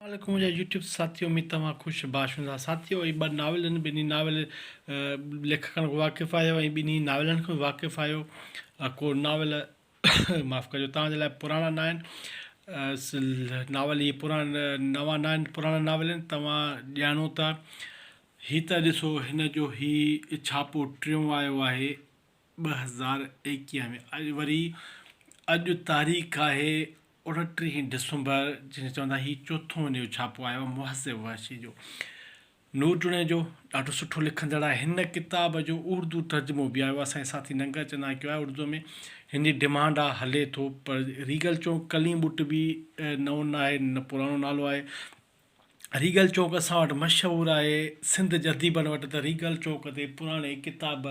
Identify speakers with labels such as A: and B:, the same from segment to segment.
A: اسلام عليڪم منهنجا يوٽيوب ساٿيو اميد توهان خوش باش هوندا ساٿيو هي ٻه ناول آهن ٻنهي ناول ليکڪن کان واقف آهيو ۽ ٻنهي ناولن کان واقف آهيو ڪو ناول معاف ڪجو توهان جي لاء پراڻا نه آهن ناول هي پراڻا نوان نه آهن پراڻا ناول آهن توهان ڄاڻو ٿا هي ته ڏسو هن جو هي ڇاپو ٽيون آيو آهي ٻه هزار ايڪيهه ۾ اڄ وري اڄ تاريخ آهي اڻٽيهين ڊسمبر جنهن کي چوندا هي چوٿون ان جو ڇاپو آيو آهي محسن وحشي جو نور جوڻيجو ڏاڍو سٺو لکندڙ آهي هن ڪتاب جو اردو ترجمو به آيو اسان جي ساٿي ننگر چند آهي ڪيو آهي اردو ۾ هن جي ڊمانڊ آهي هلي ٿو پر ريگل چون ڪليم ٻٽ به نئون ناهي نه پراڻو نالو آهي ريگل چوڪ اسان وٽ مشهور آهي. سنڌ جي اديبن وٽ ته ريگل چوڪ تي پراڻي ڪتاب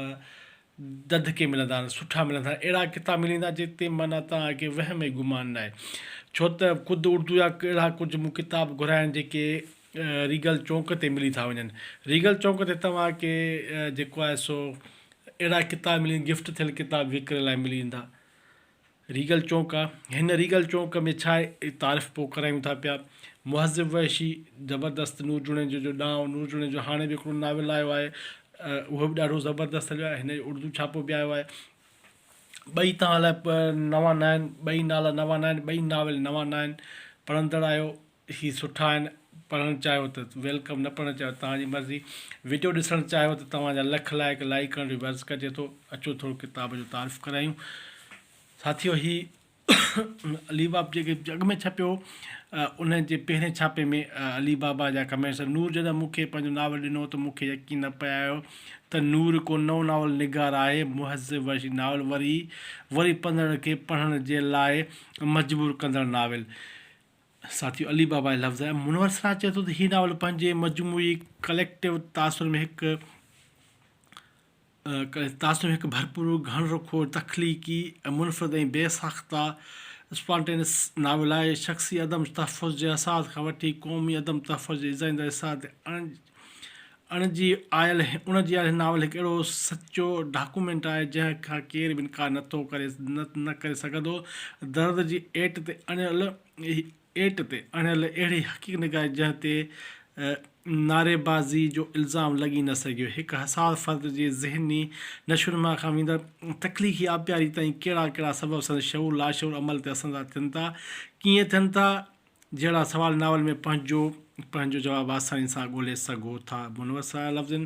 A: دڌ ڪي ملندا آهن، سٺا ملندا آهن. اهڙا ڪتاب ملي ويندا جن تي معنيٰ توهان کي وهم ۽ گمان ناهي. ڇو ته خود اردو جا اهڙا ڪجهه مون ڪتاب گهريا آهن جيڪي ريگل چوڪ تي ملي ٿا وڃن. ريگل چوڪ تي توهان کي جيڪو آهي سو اهڙا ڪتاب ملي گفٽ ٿيل ڪتاب وڪري لاء ملي ويندا. ريگل چونڪ آ هن ريگل چونڪ ۾ ڇا تعارف پو ڪرايون ٿا پيا مهذب وحشي زبردست نور جوڻيجو جو ڏانء نور جوڻيجو هاڻي به هڪڙو ناول آيو آهي اهو به ڏاڍو زبردست هليو آهي هن جو اردو ڇاپو به آيو آهي ٻئي توهان لاء نوان نه آهن ٻئي نالا نوان نه آهن ٻئي ناول نوان نه آهن پڙهندڙ آهيو هي سٺا آهن پڙهڻ چاهيو ته ويلڪم نه پڙهڻ چاهيو ته توهان جي مرضي وڊيو ڏسڻ چاهيو ته توهان جا لک لائق لائيڪ ڪرڻ جو به عرض ڪجي ٿو اچو ٿورو ڪتاب جو تعارف ڪرايون ساٿيو هي علي باب جيڪي جڳ ۾ ڇپيو ان جي پهرين ڇاپي ۾ علي بابا جا ڪمينٽس نور جڏهن مون کي پنهنجو ناول ڏنو ته مون کي يقين نه پيايو ته نور ڪو نئون ناول نگار آهي مهذب ورشي ناول وري وري پڙهندڙن کي پڙهڻ جي لاء مجبور ڪندڙ ناول ساٿيو علي بابا جي لفظ آهي. منور سراج چئي ٿو ته هي ناول پنهنجي مجموعي Collective تاثر ۾ هڪ تاثر ۾ هڪ ڀرپور، گهڻ رخو، تخليقي ۽ منفرد ۽ بي ساخته Spontaneous ناول آهي. شخصي عدم تحفظ جي احساس کان وٺي قومي عدم تحفظ جي ايذائيندڙ احساس تي اڻ جي آيل اڻ جي آيل ناول هڪ اهڙو سچو ڊاڪومينٽ آهي جنهن کان ڪير به انڪار نه ٿو ڪري نه ڪري سگهندو درد جي ايٽ تي اڻيل ايٽ تي اڻيل اهڙي حقيق نگاري جنهن تي نعريبازي جو الزام لڳي نه سگهيو هڪ حساس فرد جي ذهني نشونما کان ويندڙ تخليقي آبياري تائين ڪهڙا ڪهڙا سبب سندس شعور لاشعور عمل تي اثرانداز ٿين ٿا ڪيئن ٿين ٿا جهڙا سوال ناول ۾ پنهنجو پنهنجو جواب آساني سان ڳولي سگهو ٿا. منوس آيا لفظن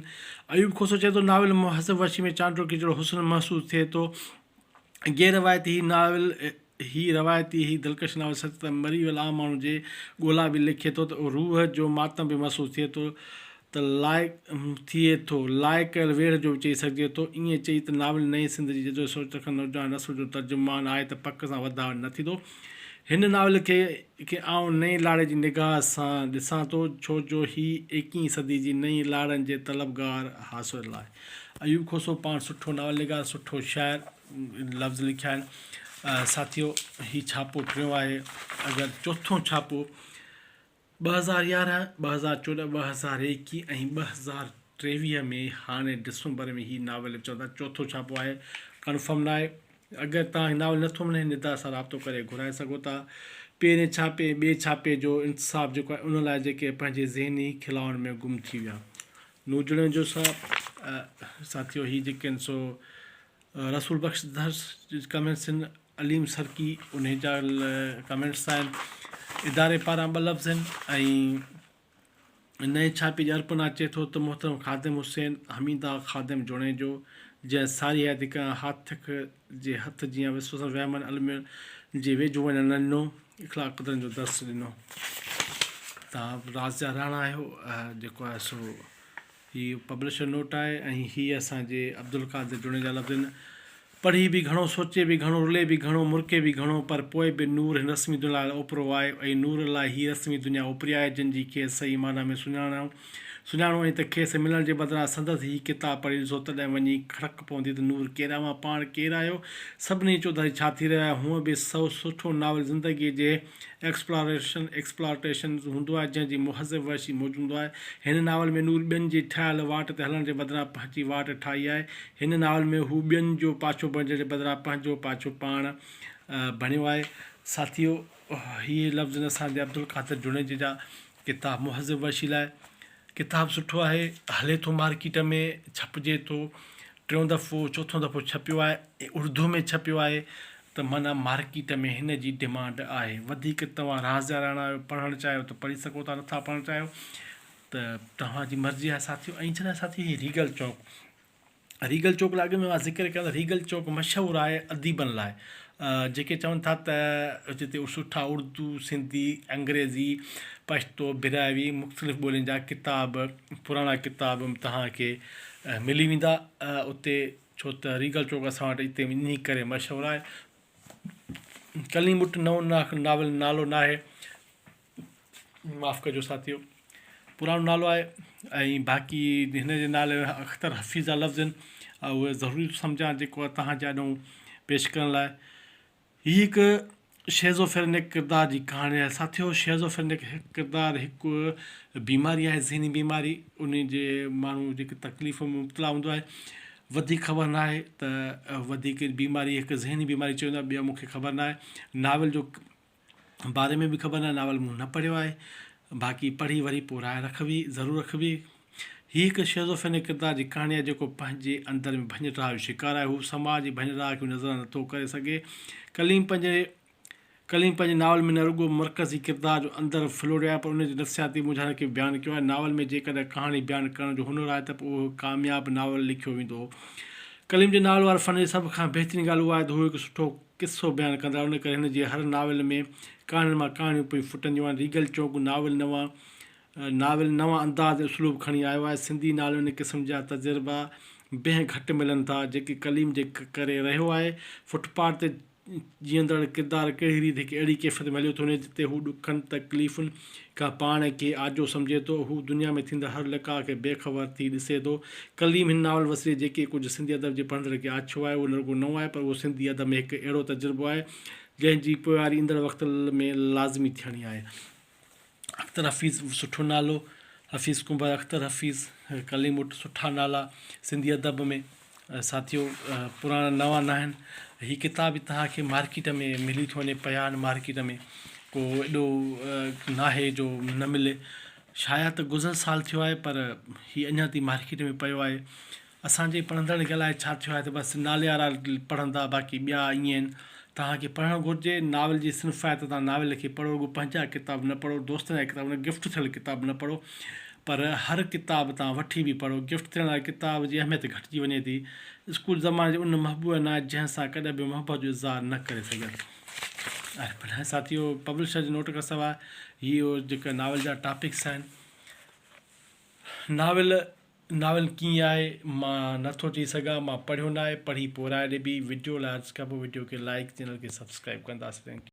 A: ايوب کوسو چئي ٿو، ناول مان حسب وحشي ۾ چانڊوڪي جهڙو حسن محسوس ٿئي ٿو. غير روايتي هي ناول هي روايتي هي دلڪش ناول سچ ته مري ويل عام ماڻهو جي ڳولا به لکي ٿو ته روح جو ماتم به محسوس ٿئي ٿو. ته لائق ٿئي ٿو. لائق ڪيل ويڙهه جو به چئي سگهجي ٿو. ائين چئي ته ناول نئين سنڌ جي جدو سوچ رکندڙ نوجوان نسل جو ترجمان آهي ته پڪ سان وڌاء نه ٿيندو. هن ناول کي کي آئون نئين لاڙي جي نگاهه سان ڏسان ٿو ڇو جو هي ايڪيهين صدي جي نئين لاڙن جي طلبگار حاصل آهي. ايوب کوسو پاڻ سٺو ناول نگار سٺو شاعر لفظ لکيا آهن ساٿيو هي ڇاپو ٽيون آهي اگر چوٿون ڇاپو ٻه هزار يارهن، ٻه هزار چوڏهن، ٻه هزار ايڪيهه ۽ ٻه هزار ٽيويهه ۾ هاڻي ڊسمبر ۾ هي ناول چون ٿا چوٿون ڇاپو آهي ڪنفرم ناهي اگر توهان کي ناول نٿو وڻي هن اداري سان رابطو ڪري گهرائي سگهو ٿا پهرين ڇاپي ۽ ٻئي ڇاپي جو انتساب جيڪو آهي ان لاء جيڪي پنهنجي ذهني خلاون ۾ گم ٿي ويا نوجڙن جو سا ساٿيو هي جيڪي آهن سو رسول بخش درس ڪمنسن عليم سرڪي انهي جا ڪمينٽس ٿا آهن اداري پاران ٻه لفظ آهن ۽ نئين ڇاپي جي ارپنا اچي ٿو ته محترم خادم حسين حميده خادم جوڻيجو جنهن ساري حياتي ڪنهن هاٿڪ جي هٿ جيان وسوسن وهمن المين جي ويجهو وڃڻ نه ڏنو اخلاق قدرن جو درس ڏنو تان رازيا راڻا آهيو جيڪو آهي سو هي پبلشر نوٽ آهي ۽ هي اسان جي عبدالقادر جوڻيجا لفظن پڙهي به گهڻو، سوچي به گهڻو، رلي به گهڻو، مرڪي به گهڻو، پر پوء به نور هن رسمي دنيا لاء اوپرو آهي ۽ نور لاء هيء رسمي دنيا اوپري آهي، جنهن جي کيس صحيح معنيٰ ۾ سڃاڻڻ سڃاڻو ۽ ته کيس ملڻ جي بدران سندس هي ڪتاب پڙهي ڏسو، تڏهن وڃي کڙڪ پوندي ته نور ڪير اوهان پاڻ ڪير آهيو؟ سڀني چوڌاري ڇا ٿي رهيو آهي؟ هونء به سو سٺو ناول زندگيء جي ايڪسپلاريشن، Exploitation، هوندو آهي، جنهن جي مهذب وحشي موج هوندو آهي. هن ناول ۾ نور ٻين جي ٺاهيل واٽ تي هلڻ جي بدران پنهنجي واٽ ٺاهي آهي. هن ناول ۾ هو ٻين جو پاڇو بڻجڻ جي بدران پنهنجو پاڇو پاڻ بڻيو آهي. ساٿيو! هي لفظ نثار جي عبدالقادر جوڻيجي جا ڪتاب مهذب وشي لاء ڪتاب سٺو آهي هلي ٿو مارڪيٽ ۾ ڇپجي ٿو ٽيون دفعو چوٿون دفعو ڇپيو آهي ۽ اردو ۾ ڇپيو آهي ته معنيٰ مارڪيٽ ۾ هن جي ڊمانڊ آهي وڌيڪ توهان رازيا راڻا آهيو پڙهڻ چاهيو ته پڙهي سگهو ٿا نٿا پڙهڻ چاهيو ته توهان جي مرضي آهي ساٿيو ۽ جنهن ساٿيو هي ريگل چوڪ ريگل چوڪ لاء اڳ ۾ مان ذڪر ڪيو ته ريگل چوڪ مشهور آهي اديبن لاء جيڪي چون ٿا ته جتي سٺا اردو، سنڌي، انگريزي، پشتو، براهوي مختلف ٻولين جا ڪتاب پراڻا ڪتاب توهان کي ملي ويندا اتي ڇو ته ريگل چوڪ اسان وٽ اتي انهي ڪري مشهور آهي ڪليمٽ نو ناول نالو ناهي معاف ڪجو ساٿيو پراڻو نالو آهي ۽ باقي هن جي نالي ۾ اختر حفيظ جا لفظ آهن اهو ضروري ٿو سمجهان جيڪو آهي تهان جي آڏو پيش ڪرڻ لاء هي هڪ شيزوفرينڪ ڪردار جي ڪهاڻي آهي ساٿيو شيزوفرينڪ ڪردار هڪ بيماري آهي ذهني بيماري ان جي ماڻهو جيڪي تڪليف ۾ مبتلا هوندو آهي وڌيڪ خبر نه آهي ته وڌيڪ بيماري هڪ ذهني بيماري چئي ويندو آهي ٻيو مون کي خبر نه آهي ناول جو باري ۾ به خبر ناهي ناول مون نه پڙهيو آهي باقي پڙهي وري پوء راء رکبي ضرور رکبي هي هڪ شيزوفرينڪ ڪردار جي ڪهاڻي آهي جيڪو پنهنجي اندر ۾ ڀڃ ٽاهه جو شڪار آهي هو سماج جي ڀڃ ٽاهه کي نظر نه ٿو ڪري سگهي ڪليم پنهنجي ڪليم پنهنجي ناول ۾ نه رڳو مرڪزي ڪردار جو اندر ڦلوڙيو آهي پر ان جي نفسياتي مونجهارن کي به بيان ڪيو آهي ناول ۾ جيڪڏهن ڪهاڻي بيان ڪرڻ جو هنر آهي ته پوء اهو هڪ ڪامياب ناول لکيو ويندو ڪليم جي ناول واري فن جي سڀ کان بهترين ڳالهه اها آهي ته هو هڪ سٺو قصو بيان ڪندا آهيو ان ڪري هن جي هر ناول ۾ ڪهاڻين مان ڪهاڻيون پئي ڦٽنديون آهن ريگل چونڪ ناول نوان ناول نوان انداز ۽ اسلوب کڻي آيو آهي سنڌي ناول ۾ ان قسم جا تجربا بنهه گهٽ ملن ٿا جيڪي ڪليم جي ڪري رهيو آهي فٽ پاٽ تي جيئندڙ ڪردار ڪهڙي ريت هڪ اهڙي ڪيفيت ۾ هليو ٿو وڃي جتي هو ڏکن تڪليفن ڪا پاڻ کي آجو سمجهي ٿو، هو دنيا ۾ ٿيندڙ هر لقاء کي بي خبر ٿي ڏسي ٿو. ڪليم هن ناول وسيلي جيڪي ڪجهه سنڌي ادب جي پڙهندڙ کي آڇيو آهي، اهو نه رڳو نئون آهي، پر اهو سنڌي ادب ۾ هڪ اهڙو تجربو آهي، جنهن جي پوئواري ايندڙ وقت ۾ لازمي ٿيڻي آهي. اختر حفيظ سٺو نالو حفيظ ڪنڀر اختر حفيظ ڪليم وٽ سٺا نالا سنڌي ادب ۾. ساٿيو پراڻا نوان ناهن هي ڪتاب به توهان کي مارڪيٽ ۾ ملي ٿو وڃي پيا آهن مارڪيٽ ۾ ڪو ايڏو ناهي جو نه ملي شايد ته گذريل سال ٿيو آهي پر هي اڃا تائين مارڪيٽ ۾ پيو آهي اسانجي پڙهندڙن کي الاء ڇا ٿيو آهي ته بس ناليارا پڙهندا باقي ٻيا ائين توهان کي پڙهڻ گهرجي، ناول جي صنفيات تان ناول کي پڙهو، رڳو پنهنجا ڪتاب نه پڙهو، دوستن جا ڪتاب نه، گفٽ ٿيل ڪتاب نه پڙهو، پر هر ڪتاب تان وٺي به پڙهو، گفٽ ٿيڻ واري ڪتاب جي اهميت گهٽجي وڃي ٿي، اسڪول زماني جي ان محبوب نا جنهن سان ڪڏهن به محبت جو اظهار نه ڪري سگهيس. آهي پر هي ساٿيو پبلشر جي نوٽ کان سواء هيء جيڪا ناول جا ٽاپڪس آهن ناول ناول ڪيئن آهي مان نه ٿو چئي سگهان مان پڙهيو ناهي پڙهي پورهائي ڏبي وڊيو لاء عرض ڪبو وڊيو کي لائيڪ چينل کي سبسڪرائيب ڪنداسين ٿينڪ يو.